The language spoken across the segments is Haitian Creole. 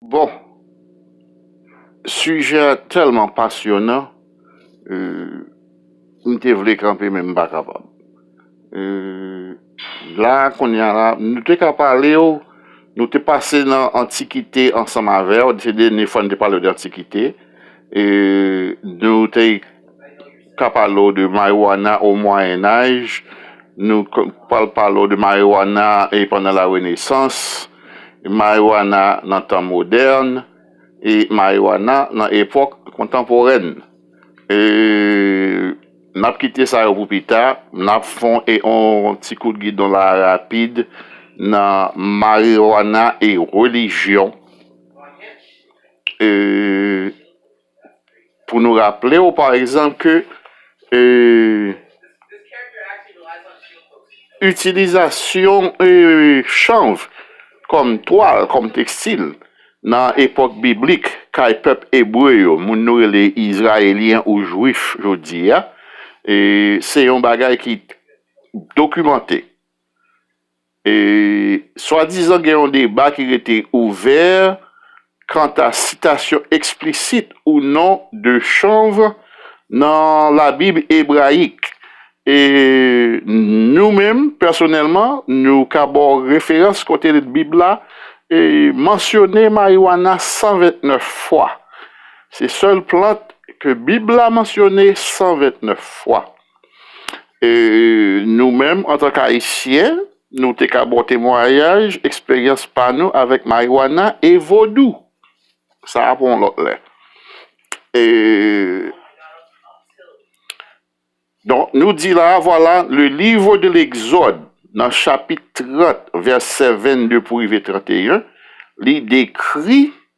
Bon sujet a telman pasyonan m te vle kanpe men m pa kapab la kounya la nou te ka pale w nou te pase nan antikite ansanm avè w se dènye fwa nou te pale w de antikite nou te ka pale w de marijuana o Moyen Âge, nou k pral pale w de marijuana e pandan la Renesans, marijuana nan tan modèn e marijuana nan epòk kontanporèn. E n ap kite sa yo pou pita, n ap fon e on ti kout gidon la a rapid nan marijuana e relijyon e. Pou nou raple w pa egzanp ke itilizasyon chanv kòm twal, kòm tekstil nan epòk biblik kay pèp ebre yo, moun nou rele Izrayelyen ou Jwif jodi a, se yon bagay ki dokimante. Swadizan gen yon deba ki rete ouvè kanta sitasyon eksplisit ou non de chanv nan Labib ebrayik. Nou menm, pèsonèlman, nou ka ba w referans kote Bib la mansyone mariwana 129 fwa. Se sèl plant ke Bib la mansyone 129 fwa. Nou menm antank Ayisyen, nou te ka bon temwayaj eksperyans pa nou avèk mariwana e vodou. Sa a pou yon lòt lè. Donk, nou di la a, vwala, le livre de l'exode nan chapit 30 vèsè 22 pou rive 31, li dekri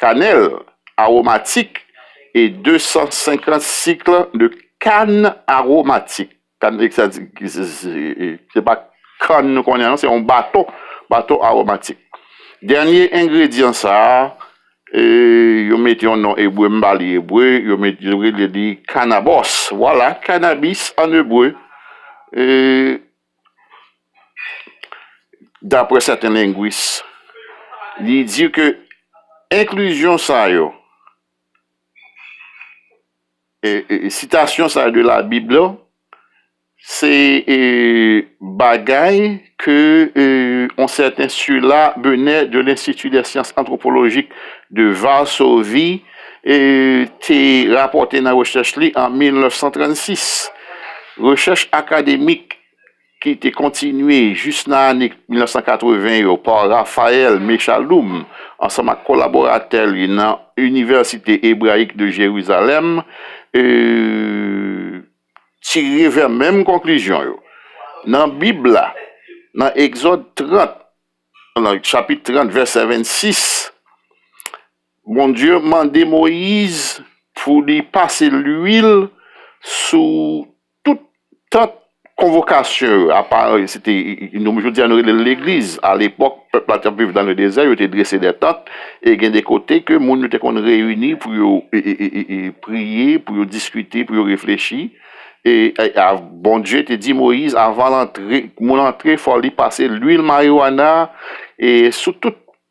Kanèl aromatik e 250 cycle de kann aromatik. Kann se pa kann nou konnen an, se yon bato, bato aromatik. Dènye engredyan sa a, yo met yon non ebre, m ba li ebre, yo met yo rele li kannabòs. Vwala, kannabis an ebre. Dapre sèten lengwis, li di ke enklizyon sa yo, sitasyon sa yo de labib la, se bagay ke yon sèten Sula Benè de Lenstiti dè Syans Antwopolojik de Varsovi te rapòte nan rechèch li an 1936. Rechèch akademik ki te kontinye jis nan ane 1980 yo pa Raphaël Mechaloum ansanm ak kolaboratè li nan Université Hébraïque de Jérusalem tire vè menm konklizyon yo. Nan Bib la, nan Egzòd 30, chapit 30, vèsè 26, Bondye mande Moyiz pou li pase luil sou tout tant konvokasyon yo, apa se te, nou jodi a nou rele l legliz, alepòk pèp la t ap viv nan ledezè, yo te drese dè tant e gen de kote ke moun yo te konn reyini pou yo priye, pou yo diskite, pou yo reflechi e Bondye te di Moyiz avan l antre, moun antre fò li pase luil mariwana sou tout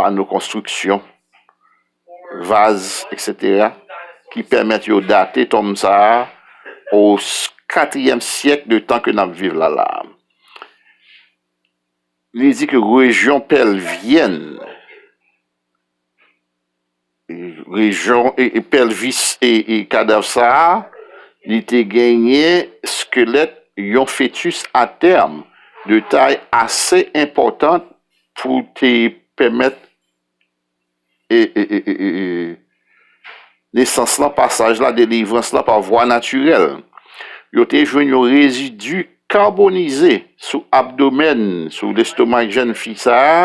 pano konstriksyon, vaz eksetera ki pèmèt yo date tonm sa a o katriyèm syèk de tan ke n ap viv la la a. Li di ke rejyon Pèlvyèn. Rejyon pèlvis kadav sa a, li te genyen skelèt yon fetis atèm de tay ase enpòtan pou te pèmèt nesans lan, pasaj la, delivrans la pa vwa natirèl. Yo te jwenn yon rezidi kabonize sou abdomèn, sou lestomak jèn fi sa a.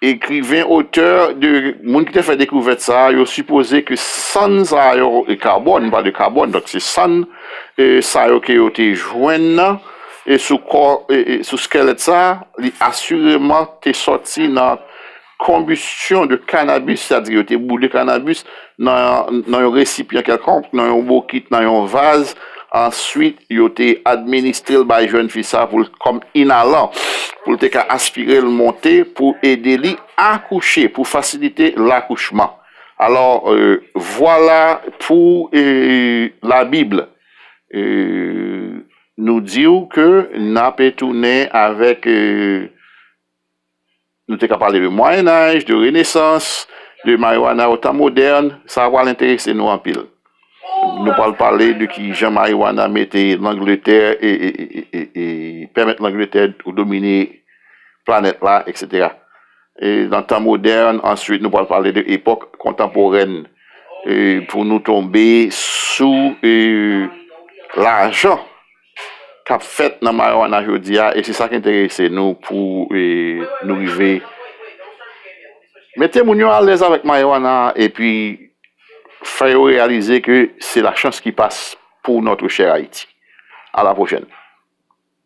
Ekriven, otè, de moun ki te fè dekouvèt sa a yo sipoze ke sann sa yo, e karbòn, nou pale de karbòn, donk se sann sa yo ke yo te jwenn nan e sou kò, sou skèlèt sa a, li asireman te sòti nan konbistyon de kanabis, sètadi yo te boule kanabis. nan yon resipyan kèlkonk, nan yon bokit, nan yon vaz, answit yo te administre l bay jèn fi sa pou l kòm inalan, pou l te ka aspire l monte pou ede li akouche, pou fasilite lakouchman. Alò, vwala pou la Bib nou di w ke n ape tounen avèk. Nou te ka pale de Mwayenaj, de Renesans, de mariwana o tan modèn, sa pral enterese nou anpil. Nou pral pale de ki jan mariwana mete Langletè e pèmèt Langletè domine planèt la, eksetera. Nan tan modèn, answit nou pral pale de epòk kontanporèn pou nou tonbe sou lajan. k ap fèt nan marijuana jodi a e se sa k enterese nou pou nou rive mete moun yo alèz avèk marijuana a epi fè yo reyalize ke se la chans ki pas pou notre chère Haïti. A la pwochèn.